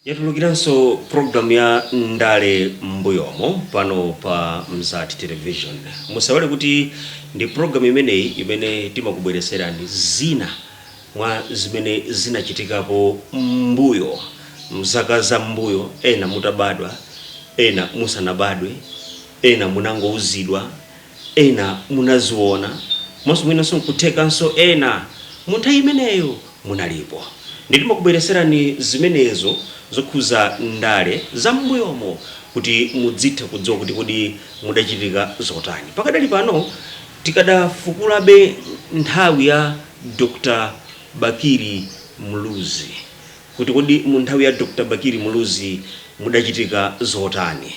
Yatulukiranso program ya ndale mmbuyomo pano pa Mzati Television. Musaiwale kuti ndi program imeneyi imene timakubweretserani zina mwa zimene zinachitikapo mmbuyo mzaka za mmbuyo ena mutabadwa, ena musanabadwe, ena munangouzidwa, ena munaziona komanso mwinanso nkuthekanso ena munthawi imeneyo munalipo ndiye timakubweretserani zimenezo zokhuza ndale za m'mbuyomo kuti mudzitha kudziwa kuti kodi kudachitika zotani. Pakadali pano tikadafukulabe nthawi ya Dr Bakili Muluzi kuti kodi mu nthawi ya Dr Bakili Muluzi mudachitika zotani.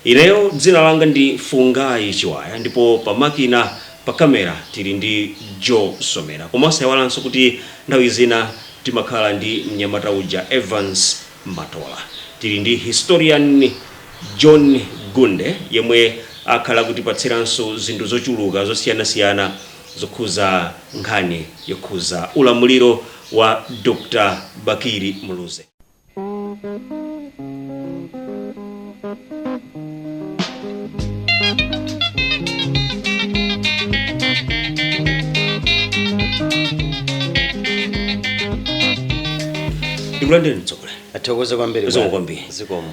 Ineyo dzina langa ndi Fungai Chiwaya ndipo pa makina, pa camera, tili ndi Joe Somera koma osayiwalanso kuti nthawi zina timakhala ndi mnyamata uja Evans Matola. Tili ndi Historian John Gunde yemwe akhala akutipatsiranso zinthu zochuluka zosiyanasiyana. zokhuza nkhani yokhuza ulamuliro wa Dr Bakili Muluzi. Ndikulandireni mtsogoleri. Tathokoza kwambiri. Zikomo kwambiri. Zikomo.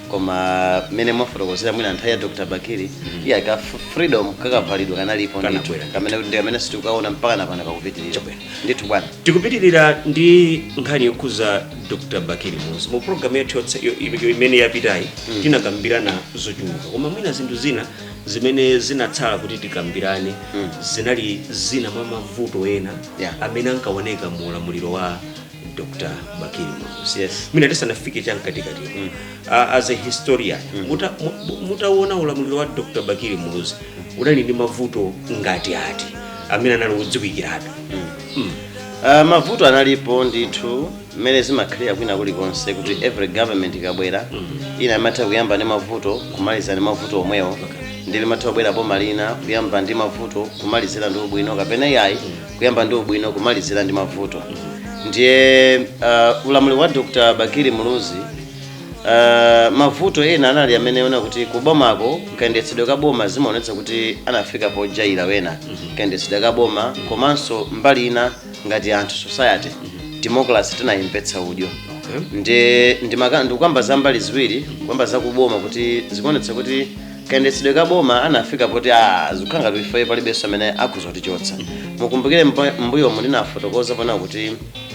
koma mmene mwafotokozera mwina nthawi ya dr bakili iya ka f- freedom kakavalidwe kanalipo ndithu Kanabwera. kamene ndi kamene tikukaona mpaka napano kakupitirira Chabwera. ndithu bwana tikupitirira ndi nkhani yokhuza dr bakili muluzi mu programu yathu yotse- yo- yo- imene yapitayi tinakambirana zochuluka koma mwina zinthu zina zimene zinatsala kuti tikambirane zinali zina mwa mavuto ena Yeah. amene ankaoneka mu ulamuliro wa dr bakili muluzi Yes. mwina tisanafike chamkatikati mm. uh, as a historian muta- mu- mutaona ulamuliro wa dr bakili muluzi unali ndi mavuto ngati ati amene anali odziwikiratu Ah, mavuto analipo ndithu mmene zimakhalira kwina kulikonse kuti every government ikabwera lina limatha kuyamba ndi mavuto kumaliza ndi mavuto omwewo ndi limatha kubwera boma lina kuyamba ndi mavuto kumalizira ndi ubwino kapena yayi kuyamba ndi ubwino kumalizira ndi mavuto ndiye uh, ulamuliro wa dr bakili muluzi uh, mavuto ena anali amene timaona kuti kubomako kayendetsedwe ka boma zimaonetsa kuti anafika pojaira penapa kayendetsedwe ka boma komanso mbali ina ngati anthu society democracy tinayimvetsa udyo ndi ndimaka- ndikukamba za mbali ziwiri kukamba za kuboma kuti zikuonetsa kuti kayendetsedwe ka boma anafika poti a zikukhala ngati ife palibenso amene akhoza kutichotsa mukumbukire mpa- m'mbuyomu ndinafotokozapo ona kuti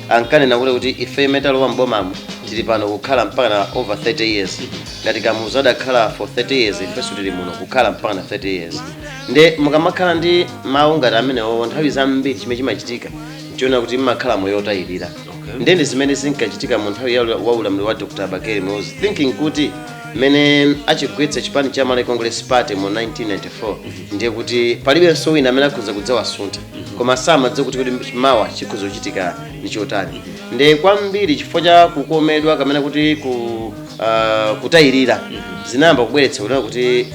ankanena kuti kuti ife imene talowa m'bomamu tili pano kukhala mpaka na over 30 years ngati kamuzu adakhala for 30 years ifenso tili muno kukhala mpaka na 30 years nde mukamakhala ndi mawu ngati amenewo nthawi zambiri chimene chimachitika nchoona kuti mmakhala moyo otayirira nde ndi zimene zinkachitika mu nthawi ya ula- wa ulamuliro wa dr bakili muluzi thinking kuti mmene achigwetsa chipani cha malawi congress party mu 1994 ndiye kuti palibenso wina amene akhoza kudzawasuntha koma samadziwa kuti kuti mawa chikhoza kuchitika ndi chotani ndi kwambiri chifukwa cha kukomedwa kamene kuti ku ah, kutayirira zinayamba kubweretsa kunena kuti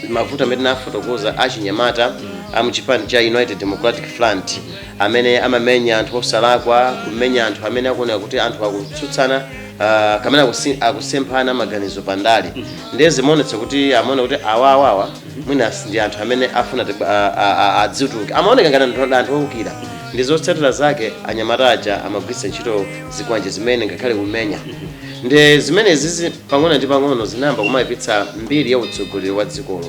mavuto amene ndinafotokoza achinyamata amuchipani cha united democratic front amene amamenya anthu osalakwa kumenya anthu amene akuoneka kuti anthu akutsutsana ah, kamene akusi- akusemphana maganizo pa ndale ndiye zimaonetsa kuti amaona kuti awawawa mwina si ndi anthu amene afuna ti- a- a- a- adzituke amaoneka ngati anthu ndi anthu owukira ndi zotsatira zake anyamata aja amagwiritsa ntchito zikwanje zimene ngakhale kumenya ndi zimene zizi pang'ono ndi pang'ono zinayamba kumayipitsa mbiri ya utsogoleri wa dzikolo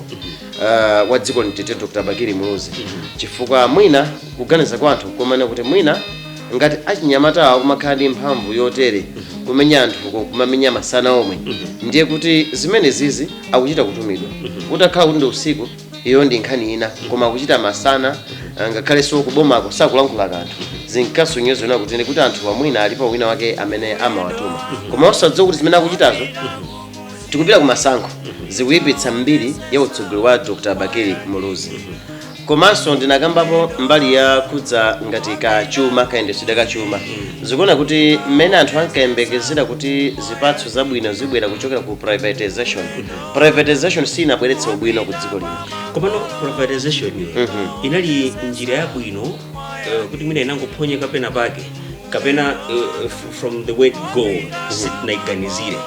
uh, wa dziko nthawi ya dr bakili muluzi chifukwa mwina kuganiza kwa anthu kumanena kuti mwina ngati achinyamatawa kumakhala ndi mphamvu yotere kumenya anthuko kumamenya masana omwe ndiye kuti zimenezizi akuchita kutumidwa utakhala kuti ndi usiku iyo ndi nkhani ina koma akuchita masana ah, ngakhalenso kubomako sakulankhula kanthu zinkasonyeza ona kuti kuti anthuwa mwina alipo wina wake amene amawatuma koma osadziwa kuti zimene akuchitazo tikupita ku masankho zikuyipitsa mbiri ya utsogoleri wa dr bakili muluzi komanso ndinakambapo mbali yokhudza ngati kachuma kayendetsedwe kachuma zikuona kuti mmene anthu ankayembekezera kuti zipatso zabwino zibwera kuchokera ku privatization privatization sinabweretse ubwino ku dziko lino komano privatization inali njira yabwino eh, kuti mwina inangophonyeka pena pake kapena uh, f- from the word go sitinayiganizire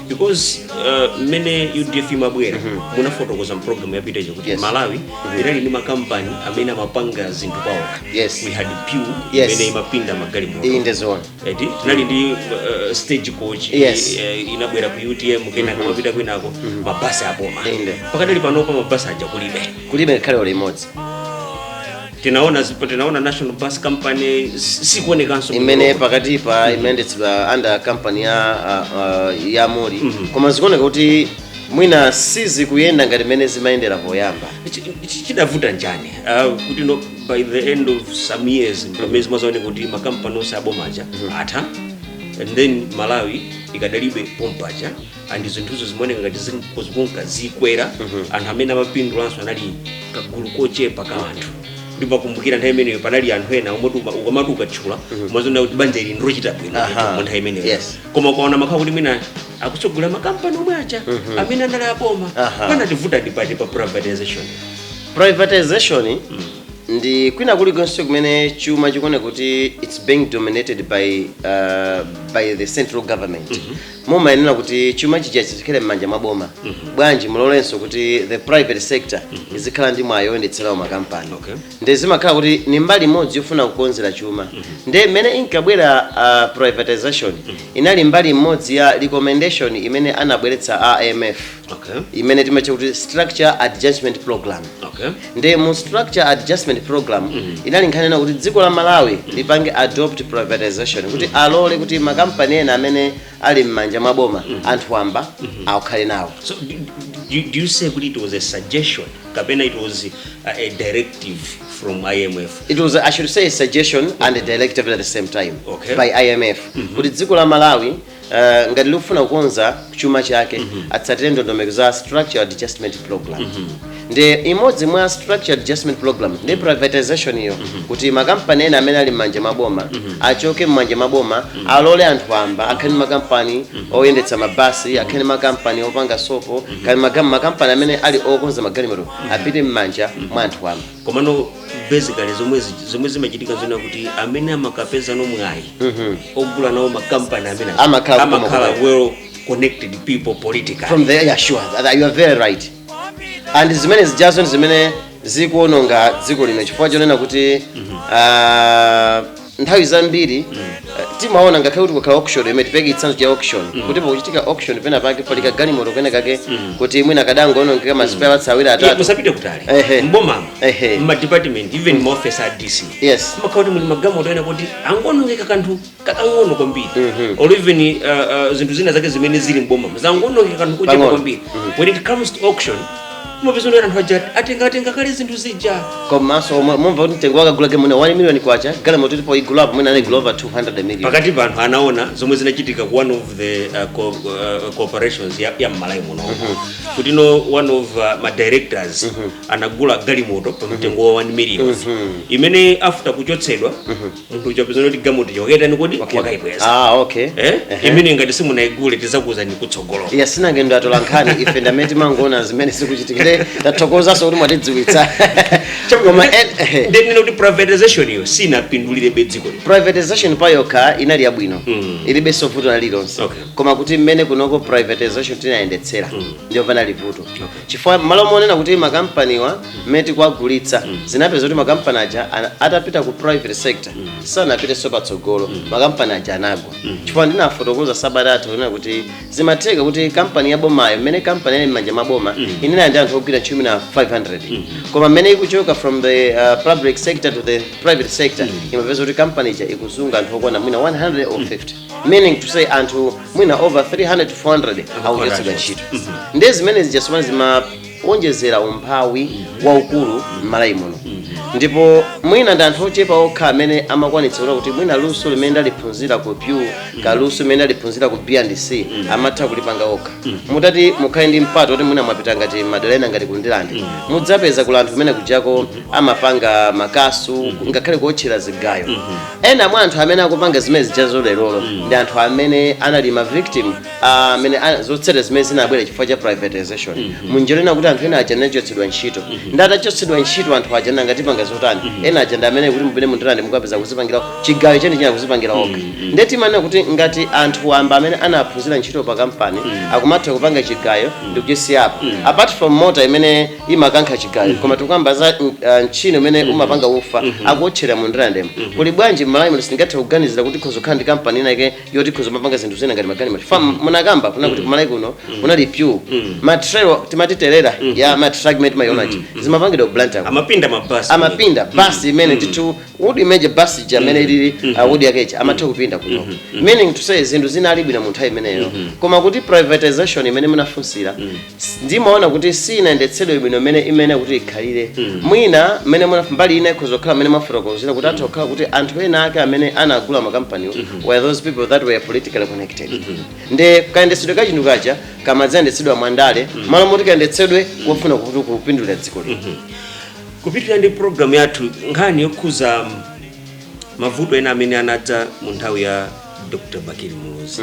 because uh, mmene udf imabwera munafotokoza mpulogalamu yapita ija kuti Yes. malawi inali ndi makampani amene amapanga zinthu paokha Yes. we had pew Yes. imene imapinda magalimoto iyi ndezona eti tinali ndi uh, stage coach Yes. eh, inabwera ku utm kenako mapita kwinako mabasi aboma Inde. pakadali panopa mabasi aja kulibe kulibe ngakhale uli imodzi tinaona zipo tinaona national bus company si- sikuonekanso imene pakatipa imayendetsedwa under company ya uh, uh, ya muli koma zikuoneka kuti mwina sizikuyenda ngati mmene zimayendera poyamba Chi- chi- chidavuta njani Ah, kuti no by the end of some years pamene zimadzaoneka kuti makampani onse abomaja atha and then malawi ikadalibe pompaja and zinthuzo zimaoneka ngati zin- zikunka zikwera anthu amene amapindulanso anali kagulu kochepa ka anthu ndimakumbukira nthawi imeneyo panali anthu ena omwe tuma- ukamati ukatchula umaona kuti banja ili ndilochita bwino Aha. mu nthawi imeneyo Yes. koma ukaona makhala kuti mwina akutsogolera makampani omwe aja amene anali aboma Aha. panativuta ndi pati pa privatization privatization ndi kwina kulikonse kumene chuma chikuoneka kuti its being dominated by, uh, by the central government mumayenera kuti chuma chisachite kukhala m'manja mwa boma bwanji mulolenso kuti the private sector izikhala ndi mwayi oyendetserawo makampani Okay. nde zimakhala kuti ni mbali imodzi yofuna kukonzera chuma nde mmene inkabwera uh, privatization inali mbali imodzi ya recommendation imene anabweretsa a imf okay imene timatcha kuti structure adjustment program okay nde mu structure adjustment program inali nkhani ina kuti dziko la malawi lipange adopt privatization kuti alole kuti makampani ena amene ali m'manja mwa boma anthu wamba akhale nawo so do, do, do you say kuti it was a suggestion kapena it was uh, a directive from imf it was i should say a suggestion and a directive at the same time Okay. by imf kuti dziko la malawi Eh, ngati likufuna kukonza chuma chake atsatire ndondomeko za structural adjustment program ndi imodzi mwa structural adjustment program ndi privatization iyo kuti makampani ena amene ali m'manja maboma achoke m'manja maboma alole anthu wamba akhale ndi makampani oyendetsa mabasi akhale ndi makampani opanga sopo akhale maga- makampani amene ali okonza magalimoto apite m'manja mwa anthu wamba komano basically zomwe zi- zomwe zimachitika zonena kuti amene amakapezano mwayi ogula nawo makampani amene aja, Amakhala kukoma amakhala kukoma. well connected people politically from there yeah sure that you are very right and zimene zijazo ndi zimene zikuononga dziko lino chifukwa chonena kuti ah, nthawi zambiri eh, timaona ngakhale kuti kukhala auction imene tipereke chitsanzo cha auction kuti pakuchitika auction pena pake pali kagalimoto kena kake kuti mwina kadangoonongeka masipeya awiri Ee atatu musapite kutali Ehe. mbomamo Ehe. mmadepartment even maofesi a dc Yes. makhala kuti muli magalimoto ena oti angoonongeka kanthu kakang'ono kwambiri or even uh, uh, zinthu zina zake zimene zili mbomamo zangoonongeka kanthu kochepa Pang'ono. kwambiri when it comes to auction mupezano anthu aja atengatenga kale zinthu zija komanso mumva kuti mtengo akagulako mwina 1 million kwacha galimoto yoti poigulapo mwina anaigula over 200 million pakati pa anthu anaona zomwe zinachitika ku one of the uh, co uh, corporations ya, ya mmalawi muno kuti no one of uh, ma directors anagula galimoto pa mtengo wa 1 million imene after kuchotsedwa munthu uja pezana kuti galimoto yokwera kodi wakayibweza ah okay Eh? Ehe. imene ngati simunaigule tizakuuzani kutsogolo iya sinanga ndinu atolankhani ife ndamene timangoona zimene zikuchitika tathokozanso kuti mwatidziwitsa koma en- ehe. ndinena kuti privatization iyo sinapindulirebe dziko lino privatization payokha inali yabwino Mm. ilibenso vuto lina lililonse Okay. koma kuti mmene kunoko privatization tinayendetsera ndiyo panali vuto Okay. chifukwa mmalo monena kuti makampaniwa mmene tikuwagulitsa zinapezeka kuti makampani aja ana- atapita ku private sector sanapitenso patsogolo makampani aja anagwa chifukwa ndinafotokoza sabata yatha kunena kuti zimatheka kuti kampani ya bomayo mmene kampaniyi ili mmanja mwa boma inali ndi anthu ogwira ntchito mwina 500 koma mmene ikuchoka from the uh, public sector to the private sector imapezeka kuti kampani ija ikusunga anthu okwana mwina 100 or 50 meaning to say anthu mwina over 300 to 400 akuchotsedwa ntchito ndiye zimene zijazo zimawonjezera umphawi waukulu m'malawi muno ndipo mwina ndi anthu ochepa okha amene amakwanitsa kuti mwina luso limene ndaliphunzira ku pew kaya luso limene ndaliphunzira ku b&c amatha kulipanga okha mutati mukhale ndi mpata woti mwina mwapita ngati madera ena ngati ku ndirande mudzapeza kuli anthu kumene kujako amapanga makasu ngakhale kuotchera zigayo ena mwa anthu amene akupanga zimene zijazo lerolo ndi anthu amene anali ma victim ah, amene ana- zotsatira zimene zinabwera chifukwa cha privatization munjira ina kuti anthu ena aja anachotsedwa ntchito nde atachotsedwa ntchito anthu aja nanga tipanga zotani ena aja ndi amene kuti mupite mu ndirande mukapeza kuzipangira chigayo chenicheni akuzipangira okha ndiye timanena kuti ngati anthu wamba amene anaphunzira ntchito pa kampani akumatha kupanga chigayo ndi kuchisiyapo apart from mota imene imakankha chigayo koma tikukamba za mm, ah, mchini umene umapanga ufa akuotchera mu ndirandemo kuli bwanji m'malawi muno sitingathe kuganizira kuti khoza kukhala ndi kampani inake yoti ikhoza kumapanga zinthu zina ngati ma gun mati fam munakamba kunena kuti kumalawi kuno kunali pew ma trailer timatirela ta ma truck timawaona aja zimapangidwa ku blantyre amapinda mabasi amapinda basi imene ndithu would imagine basi ija mmene ilili uh, body yake ija amatha kupinda kuno meaning to say zinthu zinali bwino mu nthawi imeneyo koma kuti privatization imene munafunsira ndimaona kuti siinayendetsedwe bwino mmene imayenera kuti ikhalire mwina mmene muna- mbali ina ikhoza kukhala mmene mwafotokozera kuti atha kukhala kuti anthu ena ake amene anagula makampaniwo were those people that were politically connected nde kayendetsedwe ka chinthu kaja kamadzayendetsedwa mwandale mmalo moti kayendetsedwe kofuna kuti kupindulira dziko lino kupitirira ndi programu yathu nkhani yokhuza mavuto ena amene anadza mu nthawi ya dr bakili muluzi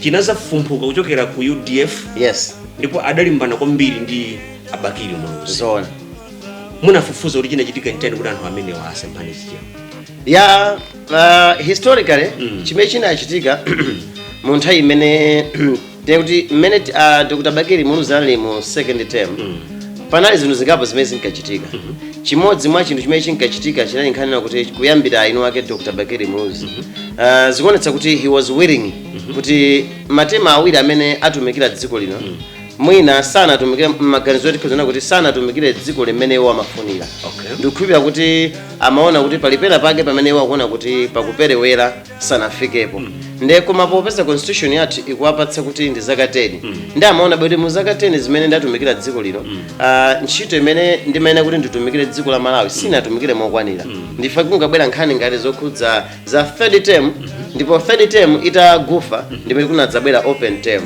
chinazafumphuka kuchokera ku udf yes ndipo adalimbana kwambiri ndi a bakili muluzi zoona munafufuza kuti chinachitika nchani kuti anthu amenewa asemphane zichewa ya uh, historically mm. chimene chinachitika mu nthawi imeneyo nkuti mmene uh, dr bakili muluzi anali mu second term mm. panali zinthu zingapo zimene zinkachitika chimodzi mwa chinthu chimene chinkachitika chinali nkhani yonena kuti kuyambira eni ake dr bakili muluzi uh, zikuonetsa kuti he was willing kuti matema awiri amene atumikira dziko lino mwina sanatumikire maganizo oti kuonetsa kuti sanatumikire dziko lino mmene iwo amafunira Okay. ndikukhulupirira kuti amaona kuti pali pena pake pamene iwo akuona kuti pakuperewera sanafikepo nde koma popeza constitution yathu ikuwapatsa kuti ndi zaka 10 nde amaona kuti mu zaka 10 zimene ndatumikira dziko lino ah, ntchito imene ndimayenera kuti nditumikire dziko la malawi sindinatumikire mokwanira ndiye kunabwera nkhani ngati zokhudza za third term ndipo third term itagwa ndimene kunadzabwera open term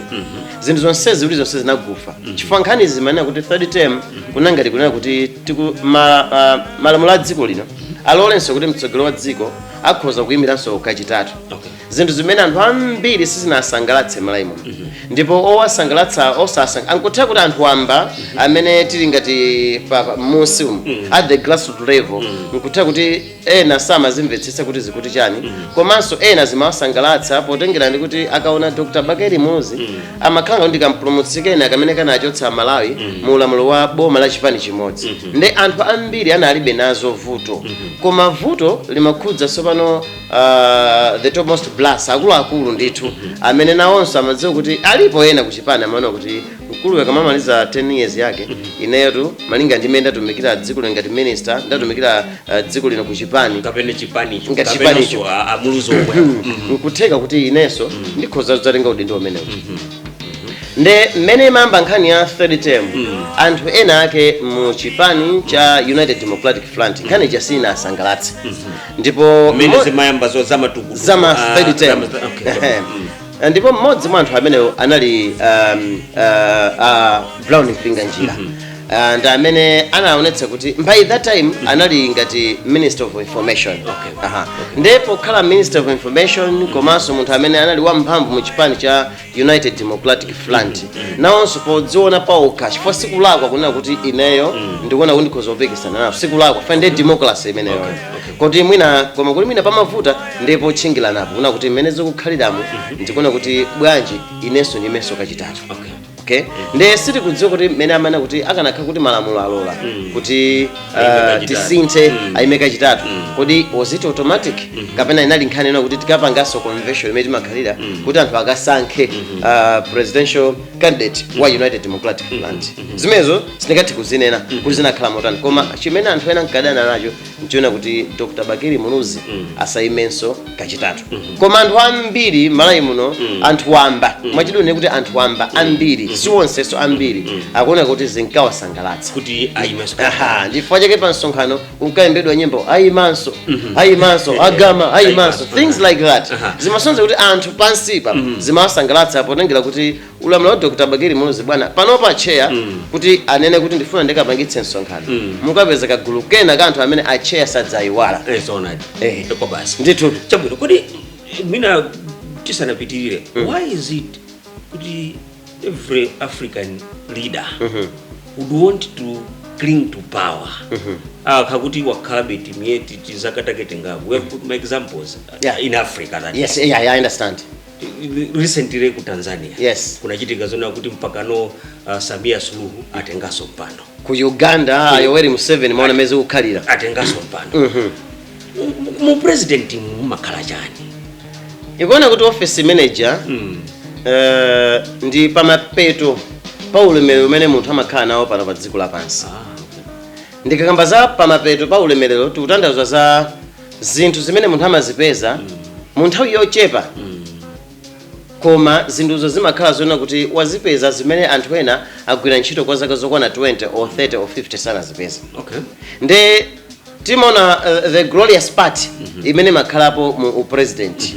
zinthu zonsezi kuti zonse zinagwa chifukwa nkhani imanena kuti third term kunali ngati kunena kuti tiku- ma- ah, malamulo a dziko lino alolenso kuti mtsogoleri wa dziko akhoza kuyimiranso kachitatu Okay. zinthu zimene anthu ambiri sizinawasangalatse m'malawi muno ndipo osawasangalatsa osasanga nkutheka kuti anthu wamba amene tili ngati pa pa- m'munsi umu at the grassroot level nkutheka kuti ena samazimvetsetsa kuti zikuti chani komanso ena zimawasangalatsa potengera ndi kuti akaona dr bakili muluzi amakhala ngati kampulumutsi kena kake kamene kanachotsa amalawi mu ulamuliro wa boma la chipani chimodzi nde anthu ambiri analibe nazo vuto koma vuto limakhudza tsopano uh, the topmost brass akuluakulu ndithu amene nawonso amadziwa kuti alipo ena kuchipani amaona kuti mkuluyu akamamaliza 10 years yake ineyotu malinga ndi mmene ndatumikira dziko lino ngati minister ndatumikira uh, dziko lino ku chipani kapena chipanicho Ngati kapenanso chipanicho. a- a muluzi omwe Mhm. nkutheka kuti inenso ndikhoza kudzatenga udindo umenewu nde mmene imayamba nkhani ya third term anthu ena ake mu chipani cha united democratic front nkhani ija sinawasangalatse ndipo mmene mo- zimayamba zo zamatukutuku zama Ah, third term zama- okay. Ehe. Ah, ndipo mmodzi mwa anthu amenewo anali um, uh, uh, brown mpinganjira Ah, ndi amene anaonetsa kuti by that time anali ngati minister of information Okay. Aha. ndiye pokhala minister of information komanso munthu amene anali wamphamvu mu chipani cha united democratic front nawonso podziona paokha chifukwa sikulakwa kunena kuti ineyo ndikuona kuti ndikhoza kupikisana nawo sikulakwa chifukwa ndi democracy imeneyo kuti mwina koma kuti mwina pamavuta ndi potchingiranapo kunena kuti mmene zikukhaliramu ndikuona kuti bwanji inenso ndiyimenso kachitatu Okay. okay ndiye sitikudziwa kuti mmene amene kuti akanakhala kuti malamulo alola kuti ah, Ayime kachitatu. tisinthe Mm. ayime kachitatu kodi was it automatic kapena inali nkhani ina kuti tikapanganso convention imene imakhalira kuti anthu akasankhe ah, presidential candidate wa united democratic front zimenezo sindingathe kuzinena kuti zinakhala motani koma chimene anthu ena ankadana nacho nchonena kuti dr bakili muluzi mm. asaimenso kachitatu mm -hmm. koma anthu ambiri malawi muno mm. anthu wamba mm. mwachidule kuti anthu wamba mm. ambiri mm -hmm. siwonsenso ambiri mm -hmm. akuoneka kuti zinkawasangalatsa kuti aimenso chifukwa chake pa msonkhano kunkayimbidwa nyimbo aimanso mm -hmm. aimanso agama aimanso things like that zimasonza kuti anthu pansipa mm -hmm. zimawasangalatsa potengera kuti ulamuliro wa dr bakili muluzi bwana panopa atcheya mm. kuti anene kuti ndifuna ndikapangitse msonkhano mm. mukapeza kagulu kena ka anthu amene atcheya sadzayiwala eh, eh. ndithu chabwino kodi mwina tisanapitirire mm. why is it kuti every african leader mm -hmm. would want to cling to power mm -hmm. ah, kakuti wakhalabe timiyeti tizakatakete ngapo we have put my examples yeah. in africa that yes yeah, yeah, i understand recently ku tanzania Yes. kunachitika zonena kuti mpakano uh, samia suluhu atenganso mpando ku uganda ah, yoweri museveni mwaona mezi ukhalira atenganso mpando Mhm. Mu- mu president mumakhala chani nkunena kuti office imene ija Mm. eh, ndi pamapeto pa ulemerero umene munthu amakhala nawo pano pa dziko lapansi Ah, okay. ndikakamba za pamapeto pa ulemerero tikutanthauza za zinthu zimene munthu amazipeza mu nthawi yochepa koma zinthuzo zimakhala zonena kuti wazipeza zimene anthu ena agwira ntchito kwa zaka zokwana 20 or 30 or 50 sanazipeza okay nde timaona uh, the glorious part imene imakhalapo mu upresident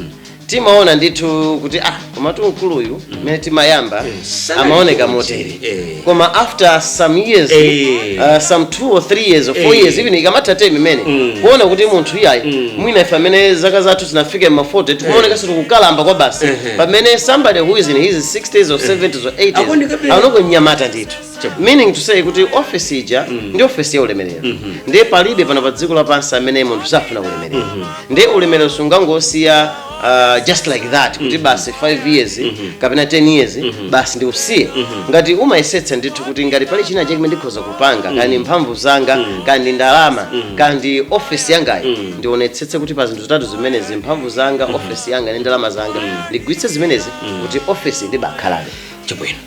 timaona ndithu kuti ah komatu mkuluyu mmene timayamba Sanali amaoneka kuti, motere eh. koma after some years Eh. uh, some two or three years or four Eh. years even ikamatha term imene mukuona kuti munthu iyayi mwina ife amene zaka zathu zinafika mma 40 tikumaonekanso tikukalamba kwa basi Ehe. pamene somebody who is in his 60s or 70s or 80s Akuonekabe- aonoko mnyamata ndithu meaning to say kuti ofesi ija ndi ofesi ya ulemerero ndiye palibe pano pa dziko lapansi amene munthu safuna ulemerero ndiye ulemerero sungangosiya uh, just like that kuti basi 5 years kapena 10 years basi ndiusiye ngati umayesetsa ndithu kuti ngati pali china chake ndikhoza kupanga kaya ndi mphamvu zanga kaya ndi ndalama kaya ndi ofesi yangayi ndionetsetse kuti pa zinthu zitatu zimenezi mphamvu zanga ofesi yanga ndi ndalama zanga ndigwiritse zimenezi kuti ofesi ndibakhalabe chabwino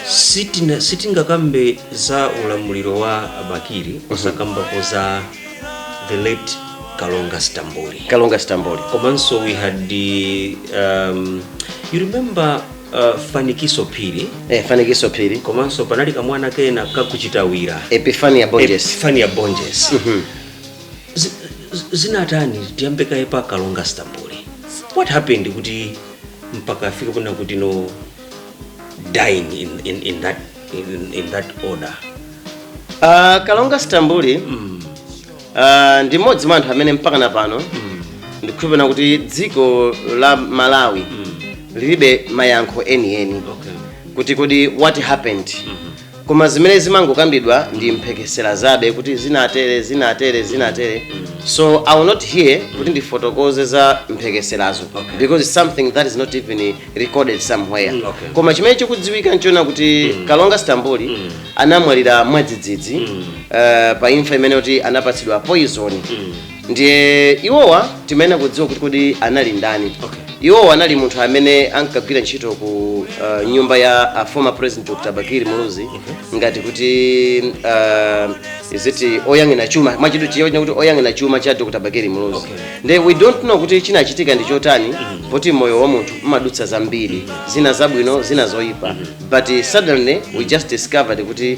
sitina sitingakambe za ulamuliro wa bakili osakambapo za the late kalonga stambuli kalonga stambuli komanso we had the, um, you remember uh, fanikiso phiri eh, fanikiso phiri komanso panali kamwana kena ka ku chitawira epifania bonjesi epifania bonjesi zinatani tiyambe kaye pa kalonga stambuli what happened kuti mpaka afike kuna kuti no dying in, in, in, that, in, in that order uh, kalonga stambuli mm. uh, ndi mmodzi mwa anthu amene mpaka na pano mm. ndikukhulupirira kuti dziko la malawi mm. lilibe mayankho enieni okay. kuti kodi what happened mm -hmm. koma zimene zimangokambidwa ndi mphekesera zabe kuti zinatere zinatere zinatere so i'm not here kuti ndifotokoze za mphekeserazo Okay. because it's something that is not even recorded somewhere Mm, okay. koma chimene chikudziwika nchona kuti kalonga stambuli anamwalira mwadzidzidzi eh, pa imfa imene akuti anapatsidwa poison ndiye iwowa timayenera kudziwa kuti kodi anali ndani Okay. iwowa anali munthu amene ankagwira ntchito ku uh, nyumba ya a former president dr bakili muluzi ngati kuti uh, is it oyang'ana chuma mwachidule chiyona kuti oyang'ana chuma cha dr bakili muluzi Okay. nde we don't know kuti chinachitika ndi chotani poti moyo wa munthu umadutsa zambiri zina zabwino zina zoyipa but uh, suddenly we just discovered kuti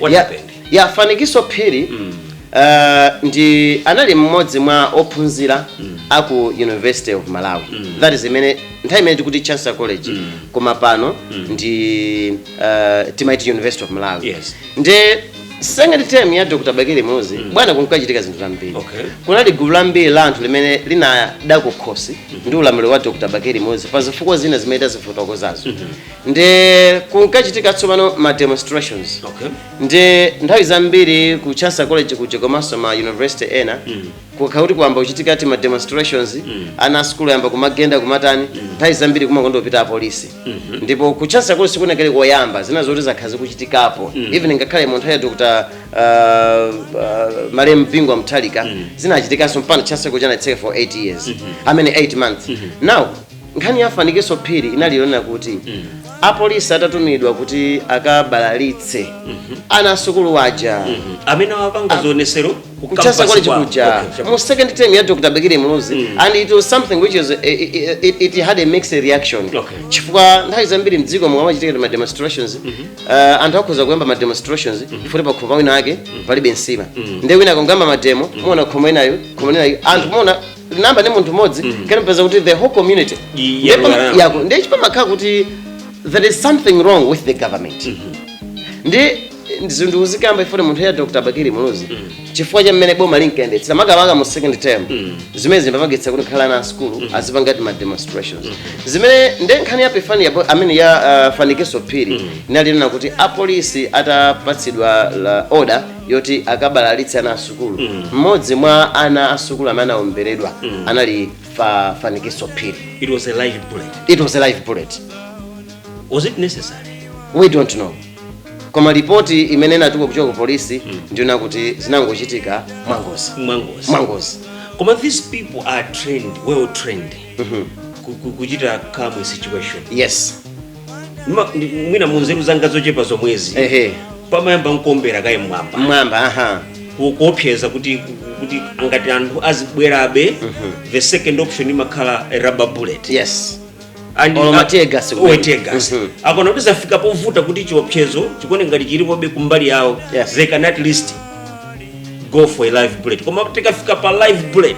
What Ya- happened? ya fanikiso phiri eh, ndi anali mmodzi mwa ophunzira a ku university of malawi that is imene nthawi imene tikuti chancellor college koma pano ndi eh, timaiti university of malawi Yes. nde second term ya dr bakili muluzi bwana kunkachitika zinthu zambiri Okay. kunali gulu lambiri la anthu limene linada kukhosi ndi ulamuliro wa dr bakili muluzi pa zifukwa zina zimene tazifotokozazo nde kunkachitika tsopano ma demonstrations okay nde nthawi zambiri ku chancellor college kuja komanso ma university ena kukhala kuti kwayamba kuchitika tima demonstrations ana asukulu ayamba kumagenda kumatani nthawi zambiri kumakonda kupita apolisi ndipo ku chancellor college sikunakhale koyamba zina zoti zakhala zikuchitikapo even ngakhale mu nthawi ya dr uh, uh, malemu bingu wa mutharika zinachitikanso mpaka chancellor college anaitseka for 8 years i mean 8 months now nkhani ya fanikiso phiri inali yonena kuti apolisi atatumidwa kuti akabalalitse ana asukulu waja amene amapanga zionetsero ku ku chancellor campus college kwawo. kuja Okay, chabu- mu second term ya dr bakili muluzi and it was something which is eh, eh, it, it had a mixed reaction Okay. chifukwa nthawi zambiri mdziko mukamachitika ma demonstrations eh, anthu akhoza kuyamba ma demonstrations even pakhomo wina ake palibe nsima nde wina akangoyamba mademo muona khomo linalo khomo linalo anthu muona linayamba ndi munthu mmodzi kanapeza kuti the whole community Ndi- Ndiye yako, pama- yako. yako ndiye kuti pamakhala kuti there is something wrong with the government nde izi ndikuzikamba even mu nthawi ya dr bakili muluzi chifukwa cha mmene boma linkayendetsera makamaka mu second term zimene zimapangitsa kuti ngakhale ana asukulu azipanga tima demonstrations zimene ndi nkhani ya pefani yabo- i mean ya uh, fanikiso phiri inali yonena kuti apolisi atapatsidwa la order yoti akabalalitse ana asukulu mmodzi mwa ana asukulu amene anaomberedwa anali fa fanikiso phiri It was a live bullet. it was a live bullet Was it necessary? we don't know koma ripoti imene inatuka kuchoka ku polisi ndi yonena kuti zinangochitika mwangozi Mwangozi. mwangozi Koma these people are trained, well trained. Ku- ku- Kuchita calm situation. yes Nima- ndi- mwina munzeru zanga zochepa zomwezi ehe pamayamba nkuombera kaye mmwamba mmwamba aha ku- kuopseza kuti kuti ngati anthu azibwerabe the second option imakhala a rubber bullet yes And- Or mategas a- kumene. or tegas. Mhm. akona kuti zafika povuta kuti chiopsezo chikuoneka ngati chilipobe kumbali yawo Yes. they can at least go for a live bullet koma tikafika pa live bullet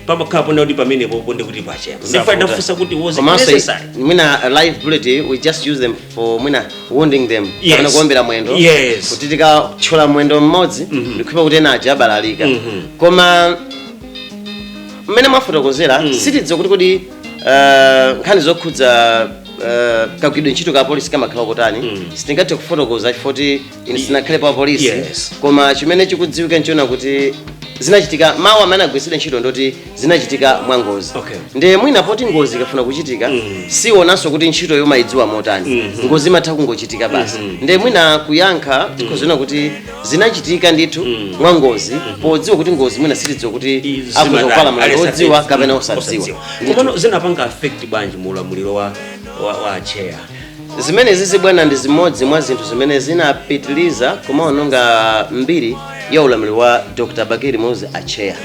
pamakhala ponena kuti pamenepo ponde kuti pache ndipo Zavuta. ndafunsa kuti was it Komanso, necessary mwina uh, live bullet eh, we just use them for mwina wounding them Yes. kapena kuombera mwendo Yes. kuti tikatchola mwendo mmodzi ndikukhulupirira kuti ena aja abalalika koma mmene mwafotokozera sitidziwa kuti kodi uh, nkhani zokhudza uh, kagwiridwe ntchito ka polisi kamakhala kotani sitingathe kufotokoza chifukwa choti ine sindinakhalepo wa polisi Yes. koma chimene chikudziwika nchonena kuti zinachitika mawu amene agwiritsidwa ntchito ndoti zinachitika mwa ngozi Okay. nde mwina poti ngozi ikafuna kuchitika sionanso kuti ntchito umayidziwa motani ngozi imatha kungochitika basi nde mwina kuyankha tikhoza kunena kuti zinachitika ndithu mwa ngozi podziwa kuti ngozi mwina sitidziwa kuti akhoza kukhala mlandu odziwa kapena osadziwa Ndithu. komano zinapanga affect bwanji mu ulamuliro wa wa, wa chair zimenezizi bwana ndi zimodzi mwa zinthu zimene zinapitiliza kumaononga mbiri ya ulamuliro wa dr bakili muluzi acheya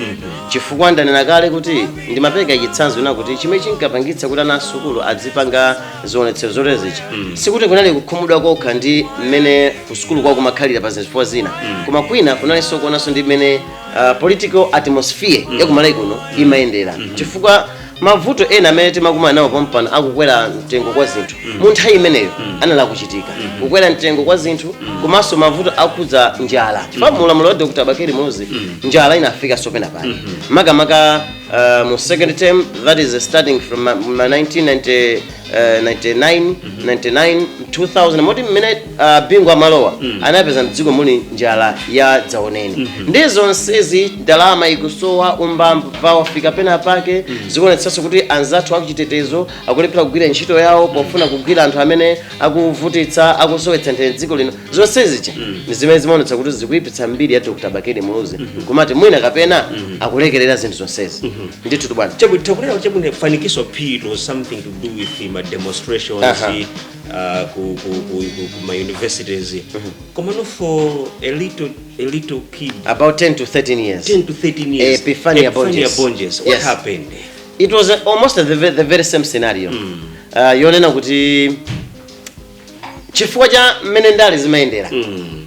chifukwa ndanena kale kuti ndimapereka chitsanzo chonena kuti chimene chinkapangitsa kuti ana asukulu adzipanga zionetsero zoterezichi sikuti kunali kukhumudwa kokha ndi mmene kusukulu kwao kumakhalira pa zifukwa zina koma kwina kunalinso kuonanso ndi mmene uh, political atmosphere yakumalawi kuno imayendera chifukwa mavuto ena amene timakumana nawo pompano akukwera mtengo kwa zinthu mu nthawi imeneyo anali akuchitika kukwera mtengo kwa zinthu komanso mavuto okhudza njala chifukwa mu ulamuliro wa dr bakili muluzi njala inafika nso pena pake makamaka uh, mu second term that is starting from ma- ma 1990 eh, 99 99 2000 moti mmene ah, bingu amalowa anapeza mdziko muli njala ya dzaoneni nde zonsezi ndalama ikusowa umbava wafika pena pake zikuonetsanso kuti anzathu achitetezo akulephera kugwira ntchito yawo pofuna kugwira anthu amene akuvutitsa akusowetsa mtendere mdziko lino zonse zija ndi zimene zimaonetsa kuti zikuyipitsa mbiri ya dr bakili muluzi kumati mwina kapena akulekerera zinthu zonsezi ndithu bwana Chabwino, tikunena kuti chabwino fanikiso phiri was something to do with ma demonstrations Aha. uh, ku, ku, ku, ku, ku ma universities komano for a little, a little kid about 10 to 13 years 10 to 13 years Epiphania Bonjesi. Bonjesi. what Yes. happened it was uh, almost the, ve- the very same scenario uh, yonena kuti chifukwa cha mmene ndale zimayendera Mm.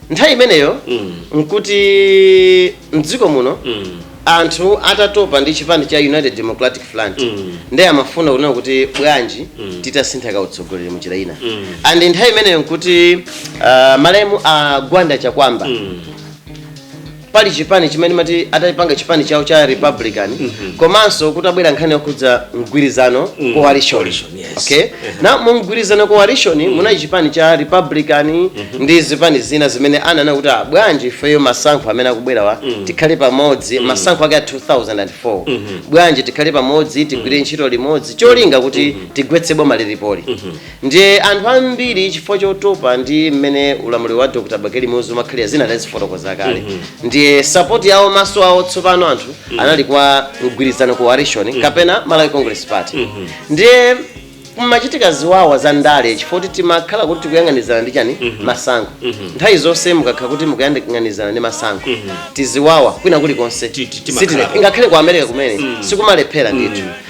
nthawi imeneyo Mm. nkuti mdziko muno Mm. anthu atatopa ndi chipani cha united democratic front Mm. ndiye amafuna kunena kuti bwanji titasintha kautsogoleri mu njira ina Mm. and nthawi imeneyo nkuti uh, malemu a gwanda chakuamba Mm. pali chipani chimene amati atapanga chipani chawo cha republican komanso kutabwera nkhani yokhudza mgwirizano coalition Coalition, yes. okay na mu mgwirizano coalition munali chipani cha republican ndi zipani zina zimene anaona kuti "Ah, bwanji ifeyo masankho amene akubwerawa tikhale pamodzi masankho ake a 2004 bwanji tikhale pamodzi tigwire ntchito limodzi cholinga kuti tigwetse boma lilipoli Ndiye anthu ambiri chifukwa chotopa ndi mmene ulamuliro wa Dr. Bakili Muluzi umakhalira zina tazifotokoza kale mm -hmm. ndiye support yawo maso awo tsopano anthu mm -hmm. anali kwa mgwirizano coalition mm -hmm. kapena Malawi Congress Party mm -hmm. ndiye kumachitika ziwawa za ndale chifukwa kuti timakhala kuti tikuyang'anizana ndi chani mm -hmm. masankho mm -hmm. nthawi zonse mukakhala kuti mukuyang'anizana ndi masankho mm -hmm. tiziwawa kwina kulikonse ngakhale ku America kumene mm -hmm. sikumalephera ndithu mm -hmm.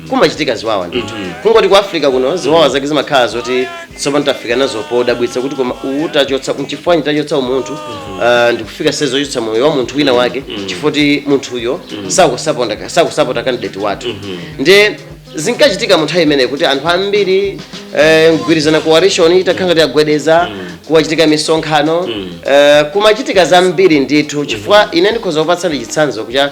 kumachitika ziwawa ndithu kungoti ku africa kuno ziwawa zake zimakhala zoti tsopano tafika nazo podabwitsa kuti koma uwu tachotsa mchifukwa chani tachotsa umunthu ah, ndikufika size yochotsa moyo wa munthu wina wake chifukwa choti munthuyo sakusapota sakusapota candidate wathu nde zinkachitika mu nthawi imeneyi kuti anthu ambiri eh, mgwirizano coalition itakhala ngati yagwedeza kumachitika misonkhano eh, kumachitika zambiri ndithu chifukwa ine ndikhoza kupatsani chitsanzo kucha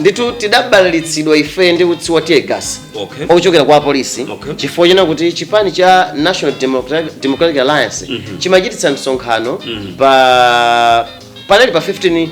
ndithu tidabalalitsidwa ife ndi utsi wa teargas Okay. wochokera kwa apolisi Okay. chifukwa chonena kuti chipani cha national democratic, democratic alliance chimachititsa msonkhano pa panali pa 15 uh,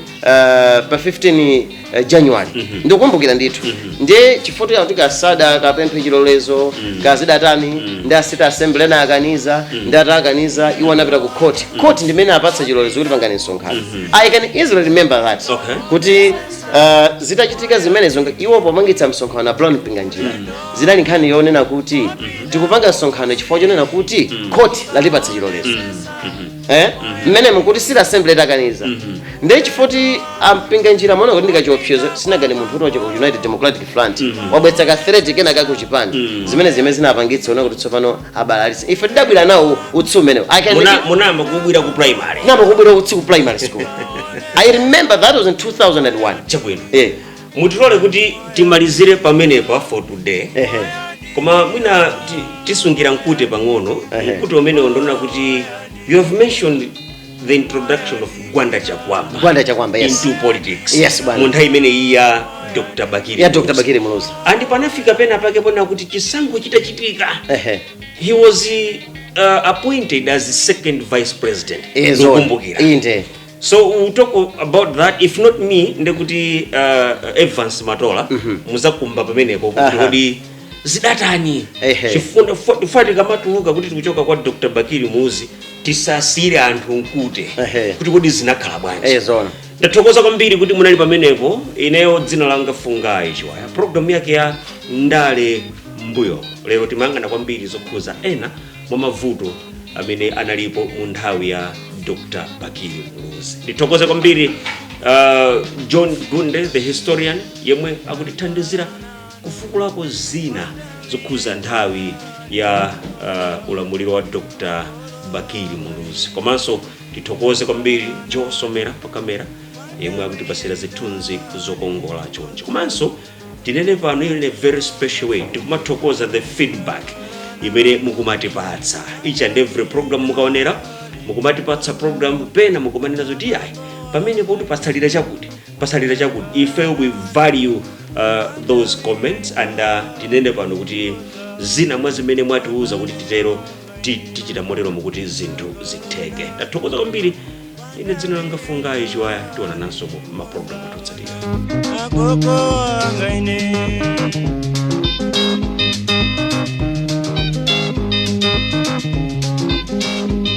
pa 15 uh, january ndikukumbukira ndithu ndiye chifukwa kuti kuti kaya sadakapemphe chilolezo kaya zidatani ndiye a city assembly anakaniza ndiye atakaniza iwo anapita ku court court ndimene apatsa chilolezo kuti pangani msonkhano i can easily remember that Okay. kuti uh, zitachitika zimenezo nga- iwo pomapangitsa msonkhano a brown mpinganjira zinali nkhani yonena kuti tikupanga msonkhano chifukwa chonena kuti khoti latipatsa chilolezo eh mmenemo nkuti city assembly itakaniza ndiye chifukwa choti a mpinganjira amaona kuti ndikachiopsezo sinanga ndi munthu kuti wachoka ku united democratic front wabweretsa ka threat kena kake ku chipani zimene zimene zinapangitsano kuti tsopano abalalitse ife tidabwira nawo utsi umenewo I can- Muna- munayamba kubwira ku primary nawo kubwira utsi ku primary school i remember that was in 2001 chabwino Eh, mutilole kuti timalizire pamenepa for today ehe. koma mwina ti- tisungira mkute pang'ono Ehe. mkute umenewo ndi wonena kuti you have mentioned the introduction of gwanda chakuamba gwanda chakuamba yes into politics Yes, bwana. mu nthawi imene iyi ya dr bakili ya dr Muluzi. bakili muluzi and panafika pena pake ponena kuti chisankho chitachitika ehe he was uh, appointed as the second vice president Eh, zoona. Ndikumbukira. inde so we'll talk about that if not me ndekuti uh, evans matola muzakumba pamenepo kuti Aha. kodi zidaatani Ehe. chifukwa tikamatuluka kuti tikuchoka kwa dr bakili muluzi tisasiyire anthu mkute Ehe. kuti kodi zinakhala bwanji Eh, zoona. ndathokoza kwambiri kuti munali pamenepo ineyo dzina langa fungayi chiwaya programu yake ya ndale mbuyo lero timayang'ana kwambiri zokhuza ena mwa mavuto amene analipo mu nthawi ya dr bakili muluzi ndithokoze kwambiri uh, john gunde the historian yemwe akutithandizira kufukulako zina zokhuza nthawi ya uh, ulamuliro wa dr bakili muluzi komanso tithokoze kwambiri joe somera pa kamera yemwe akutipatsira zithunzi zokongola chonchi komanso tinene pano in a very special way tikumathokoza the feedback imene mukumatipatsa each and every program mukaonera mukumatipatsa program pena mukumanena zoti ayi pamene pakuti patsalira chakuti patsalira chakuti ife we value uh, those comments and uh, tinene pano kuti zina mwa zimene mwatiuza kuti titero ti- tichita moteromo kuti zinthu zitheke tathokoza kwambiri ine dzina langa fungayi chiwaya tionananso mu mapulogalamu otsatira agogo wanga ine